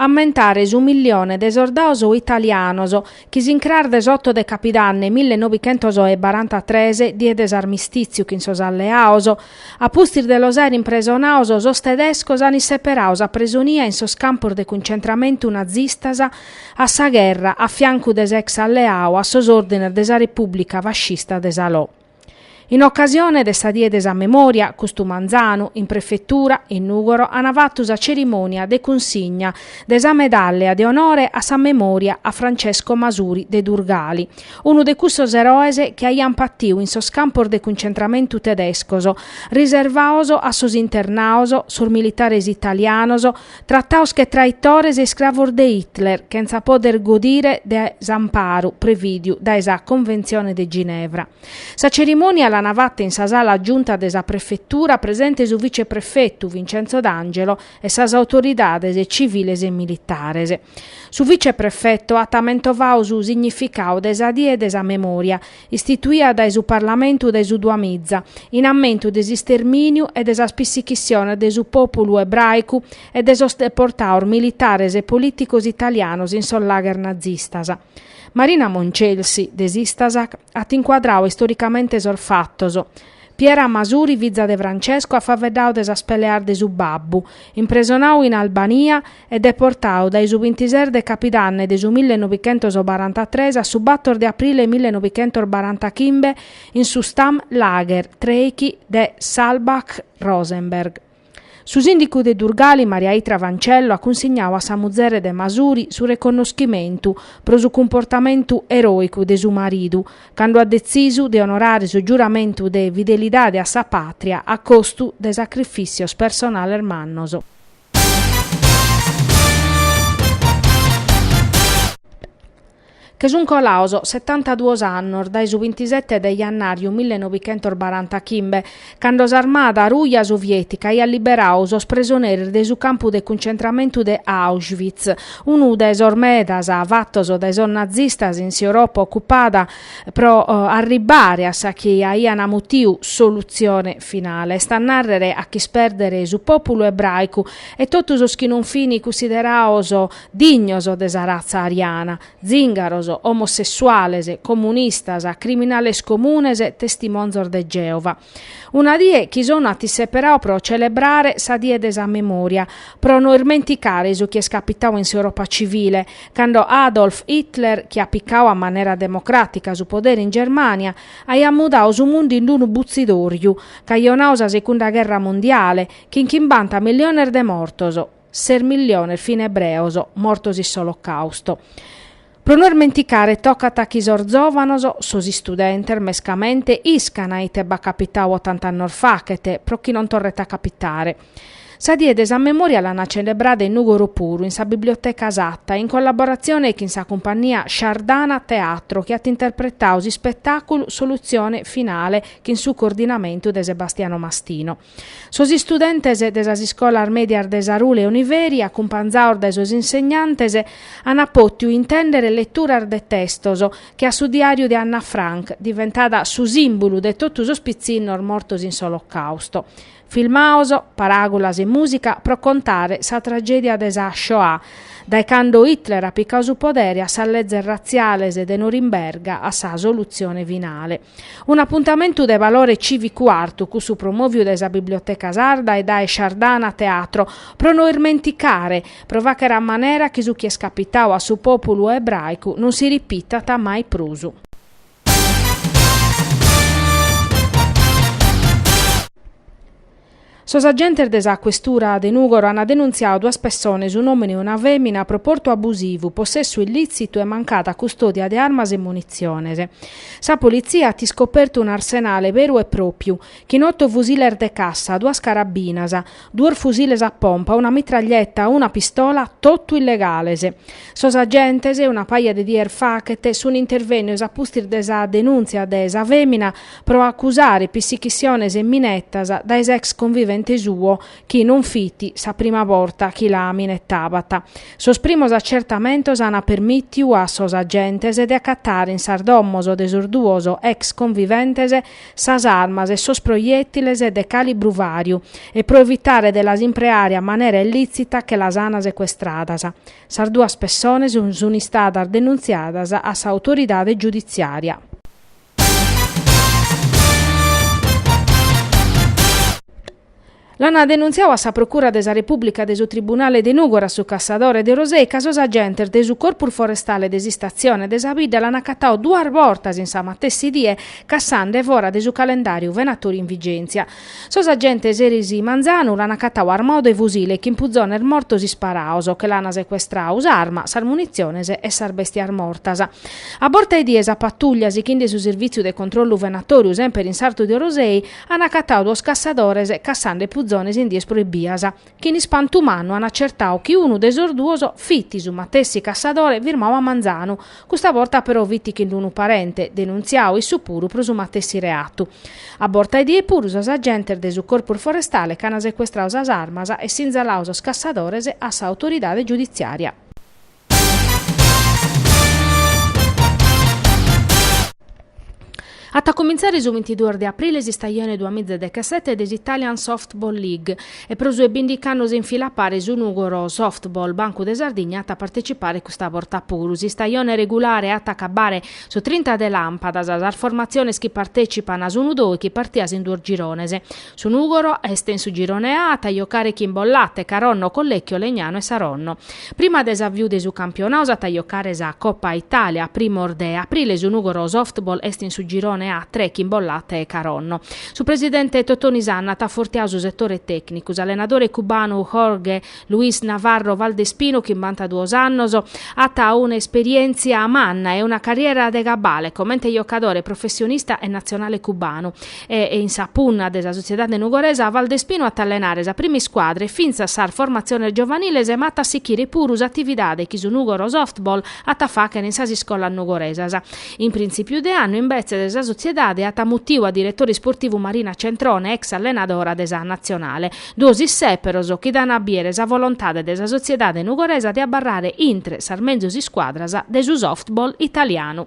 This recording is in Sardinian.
ammentare su millione de sordados italianos chi s'incras de s'oto de capidanne mille nobichentos e barantatres, die de s'armistìtziu chin sos alleados, a pustis de los àere impresonados, sos tedescos ant isseperadu sa presonia in sos campos de cuncentramentu nazistas a sa gherra a fiancu de s'ex-alleadu a sos òrdines de sa Repùblica fascista de Salò. In ocasione de sa Die de sa Memòria, custu manzanu, in Prefetura, in Nùgoro, ant fatu sa cerimònia de cunsigna de sa medàllia de onore a sa memòria a Francesco Masuri de Durgali, unu de cussos eroes chi aiant patiu in sos campos de cuncentramentu tedescos, riservados a sos internados, sos militares italianos, Tratados che traitores e iscravos de Hitler, chentza poder godire de s'amparu prevìdiu dae sa Conventzione de Ginevra. Sa cerimònia l'ana fata in sa sala giunta de sa prefetura, presente su viceprefetu Vincenzo D'Angelo e sas autoridades civiles e militares. Su viceprefetu at mentovadu su significadu de sa Die de sa Memòria, istituida dae su Parlamentu dae su duamiza, in ammentu de s'istermìniu e de sas pissichissiones de su pòpulu ebràicu e de sos deportados militares e polìticos italianos in sos lagher nazistas. Marina Moncelsi, de s'Istasac, at incuadradu istoricamente sos fatos. Piera Masuri, fiza de Francesco, at faeddadu de sas peleas de su babbu, impresonadu in Albania e deportadu dae su bintises de capidanne de su mille novichentos barantatres a su bator de aprile mille novichentos barantachimbe in su Stammlager trèichi de Sulzbach Rosenberg. Su sìndicu de Durgali Maria Itria Fancello at cunsignadu a sa muzere de Masuri su reconnoschimentu pro su cumportamentu eròicu de su maridu cando at detzisu de onorare su giuramentu de fidelidade a sa pàtria a costu de sacrifìssios personales mannos. Che sunt colados setantaduos annos dae su bintisete de jannàriu millenovichentosbarantachimbe, cando s'armada ruja soviètica aiat liberadu sos presoneris de su campu de cuncentramentu de Auschwitz, unu de sos medas fatos dae sos nazistas in s'Europa ocupada pro arribbare a sa chi aiant mutiu solutzione finale, est a nàrrere a ch'ispèrdere su pòpulu ebràicu e totu sos chi non fini cussiderados dignos de sa ratza ariana, zìngaros, omossessuales, comunistas, criminales comunes, testimonzos de Gèova. Una die chi s'ONU at isseperadu pro celebrare sa die de sa memòria, pro no ismenticare su chi est capitadu in s'Europa civile, cando Adolf Hitler, chi at picadu a manera democràtica su podere in Germània, aiat mudadu su mundu in unu butzidòriu, cajonadu sa segunda gherra mondiale, chin chimbanta milliones de mortos, ses milliones fin ebreos, mortos in s'Olocàustu. Pro no ismenticare tocat chi sos zòvanos, sos istudentes mescamente, iscana ite b'at capitadu ottant'annos faghet, pro chi non torret a capitare. Sa die de sa memòria l'ant celebrada in Nùgoro puru in sa Biblioteca Satta, in collaboratzione chin sa cumpania Shardana Teatro chi at interpretadu s'ispetàculu Solutzione Finale chin su coordinamentu de Sebastiano Mastino. Sos istudentes de sas iscolas mèdias de Sarule e Oniveri, acumpanzados dae sos insegnantes, ant pòtidu intèndere leturas de testos che a su diàriu de Anna Frank, diventada su sìmbulu de totu sos pitzinnos mortos in s'Olocàusto, Filmaos, paràgulas e mùsica pro contare sa tragèdia de sa Shoah, dae cando Hitler at picadu su podere a sas lezes ratziales de Norimberga a sa solutzione finale. Un'apuntamentu de valore cìvicu artu cussu promòviu dae sa Biblioteca Sarda e dae Shardana Teatro, pro no ismenticare, pro fàghere a manera chi su chi est capitadu a su pòpulu ebràicu non si ripitat mai prus. Sos agentes de sa questura de Nùgoro ant denuntziadu duas pessones, un'òmine e una fèmina, pro portu abusivu, possessu illìtzitu e mancada custòdia de armas e munitziones. Sa politzia at iscopertu un'arsenale beru e pròpiu, chin oto fusiles de cassa, duas carabinas, duos fusiles a pompa, una mitraglietta, una pistola, totu illegales. Sos agentes, una paja de dies faghet, sunt intervènnios a pustis de sa denùntzia de sa fèmina pro acusare pissichisiones e minettas dae s'ex convivente suo chi non fit sa prima borta chi la minetabat. Sos primos acertamentos ant permìtiu a sos agentes de acatare in sas domos de sos duos ex conviventes sas armas e sos proiètiles de càlibru vàriu e pro evitare de las impreare a manera illìtzita che las ant secuestradas. Sas duas pessones sunt istadas denuntziadas a s'autoridade giuditziària. L'ant denuntziadu a sa Procura de sa Repùblica de su Tribunale de Nùgoro a su cassadore de Orosei ca sos agentes de su Corpus Forestale de s'Istatzione de sa Bidda l'ant acatadu duas bortas in sa matessi die cassende fora de su calendàriu venatòriu in vigèntzia sos agentes eris manzanu l'ant acatadu armadu de fusile e chin puzones mortos isparados che l'ant secuestradu s'arma sas munitziones e sas bèstias mortas a borta 'e die sa patuglia sighende su servìtziu de controllu venatòriu semper in sartu de Orosei An acatau duos cassadores cassande puzones in dies proibias, chi in ispantu mannu an acertau chi unu de sos duos fit su matessi cassadore firmau a manzanu, custa borta però fit chin unu parente, denuntziau issu puru pro su matessi reatu. A borta 'e die puru sos agentes de su Corpus Forestale ch'an secuestrau sas armas e sinzalau sos cassadores a sa autoridade giuditziària. At a cumintzare su bintiduos de aprile s'istajone duas mìgia dechesete de s'Italian Softball League e pro su 'e bìndighi annos in fila a pare su Nùgoro Softball Bancu de Sardigna at a partetzipare custa borta puru. S'istajone regulare at a acabare su trinta de làmpadas. Sas formatziones chi partetzipant sun unu dóichi partias in duos girones. Su Nùgoro est in su Girone A e at a jocare chin Bollate, Caronno, Collecchio, Legnano e Saronno. Prima de s'aviu de su campionau s'at a jocare sa Coppa Italia a primos de aprile, su Nùgoro Softball est in su Girone A tre chin Bollate e Caronno. Su presidente Totoni Sanna at afortiau su setore tècnicu, s'allenadore cubanu Jorge Luis Navarro Valdespinu, chimbantaduos annos, at una esperièntzia manna e una carriera de cabale comente jocadore professionista e natzionale cubanu. E in sa punna de sa sotziedade nugoresa Valdespinu at a allenare sa prima iscuadra e fintzas sas formatziones giovaniles ma at a sichire puru s'atividade chi su Nùgoro Softball at a fàghere in sas iscolas nugoresas. In printzipiu de annu imbetzes sa sotziedade at mutiu a diretore isportivu Marina Centrone, ex allenadora de sa natzionale. Duos issèperos chi dana a biere sa volontade de sa sotziedade nugoresa de abarrare intre sas menzus iscuadras de su softball italianu.